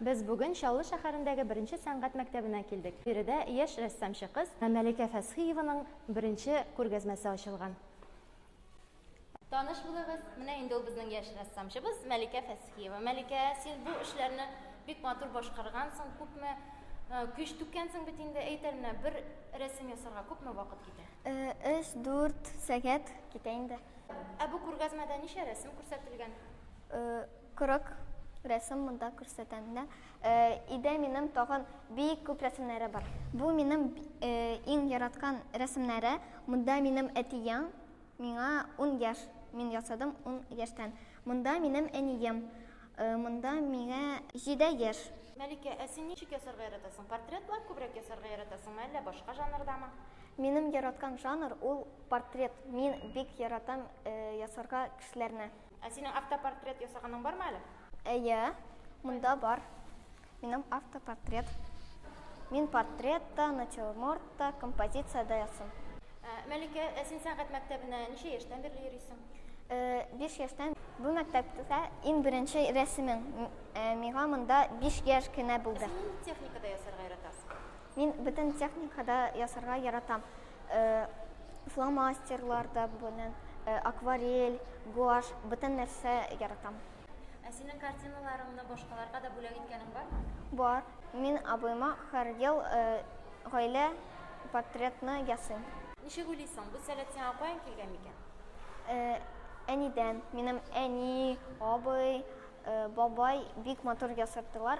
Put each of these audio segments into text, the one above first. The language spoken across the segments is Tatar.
Без бүген Чаллы шәһәрендәге беренче сәнгать мәктәбенә килдек. Биредә яшь рәссамчы кыз Мәликә Фәсхиеваның беренче күргәзмәсе ачылган. Таныш булыгыз, менә инде ул безнең яшь рәссамчыбыз Мәликә Фәсхиева. Мәликә, син бу эшләрне бик матур башкаргансың, күпме э, көч түккәнсең бит инде, әйт әле менә бер рәсем ясарга күпме вакыт китә? Э, Өч, дүрт сәгать китә инде. Ә бу күргәзмәдә ничә рәсем күрсәтелгән? Э, Кырык рәсем монда күрсәтәм дә. Э, Өйдә минем тагын бик күп рәсемнәре бар. Бу минем э, иң яраткан рәсемнәре. Монда минем әтием, Миңа ун яшь, мин ясадым ун яшьтән. Монда минем әнием, монда миңа җиде яшь. Мәликә, ә син ничек ясарга яратасың? Портретлар күбрәк ясарга яратасыңмы, әллә башка жанрдамы? Минем яраткан жанр ул портрет, мин бик яратам ясарга кешеләрне. Ә синең автопортрет ясаганың бармы әле? Әйе, монда бар. Минем автопортрет. Мин портретта, натюрмортта, композициядә ясыйм. Ә, Мәликә, ә син сәнгать мәктәбенә ничә яшьтән бирле йөрисең? Э, биш яшьтән бу мәктәптә иң беренче рәсемем. М- э, Миңа монда биш яшь кенә булды. Син нинди техникада ясарга яратасың? Мин бөтен техникада ясарга яратам. Э, Фломастерлар да белән, э, акварель, гуашь, бөтен нәрсә яратам. Ә синең картиналарыңны башкаларга да бүләк иткәнең бармы? Бар. Мин абыйма һәр ел э, гаилә портретны ясыйм. Ничек уйлыйсың, бу сәләт сиңа каян килгән микән? Э, Әнидән. Минем әни, абый, э, бабай бик матур ясаттылар.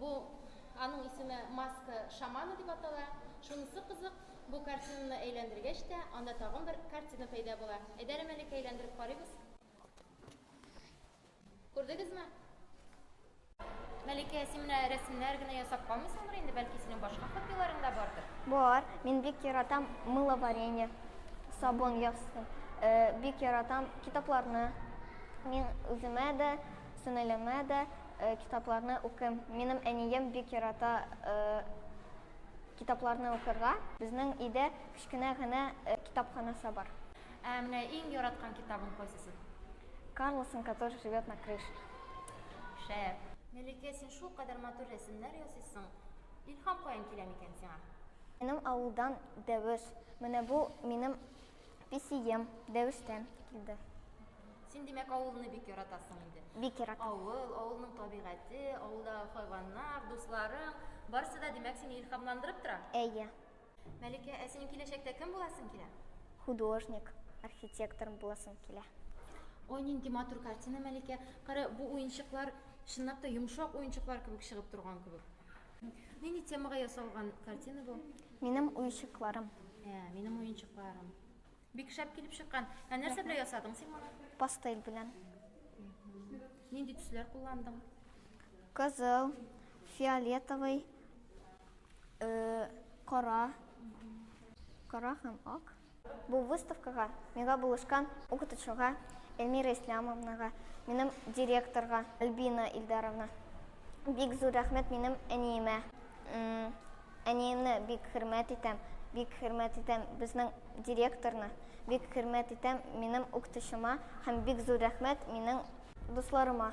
Бу аның исеме Маска шамана дип атала. Шунысы кызык, бу картинаны әйләндергәч тә, анда тагын бер картина пәйда була. Әйдә әле, Мәликә, әйләндереп карыйбыз. Күрдегезме? Мәликә, син менә рәсемнәр генә ясап калмыйсыңдыр инде, бәлки синең башка хоббиларың да бардыр? Бар, мин бик яратам мыловарение, сабын ясый. Э, бик яратам китапларны. Мин үземә дә Сеңелемә дә китапларны укыйм. Минем әнием бик ярата китапларны укырга. Безнең өйдә кечкенә генә китапханасы бар. Ә менә иң яраткан китабың кайсысы? Карлсон, который живет на крыше. Шәп! Мәликә, син шулкадәр матур рәсемнәр ясыйсың. Илһам каян килә микән сиңа? Минем авылдан Дәвеш. Менә бу минем песием, Дәвештән килде. Син димәк авылны бик яратасың инде. Бик яратам. Авыл, авылның табигате, авылда хайваннар, дусларың, барысы да димәк сине илһамландырып тора. Әйе. Мәликә, ә синең киләчәктә кем буласың килә? Художник, архитектор буласым килә. Ой, нинди матур картина, Мәликә. Кара, бу уенчыклар чынлап та йомшак уенчыклар кебек чыгып торган кебек. Нинди темага ясалган картина бу? Минем уенчыкларым. Ә, минем уенчыкларым. Бик шәп килеп чыккан. Ә нәрсә белән ясадың син моны? Пастель белән. Нинди төсләр кулландың? Кызыл, фиолетовый, э, кара. Кара һәм ак. Бу выставкага миңа булышкан укытучыга Эльмира Ислямовнага, минем директорга Альбина Илдаровна. Бик зур рәхмәт минем әниемә. Әниемне бик хөрмәт итәм, бик хөрмәт итәм безнең директорны, бик хөрмәт итәм минем укытучыма һәм бик зур рәхмәт минем дусларыма.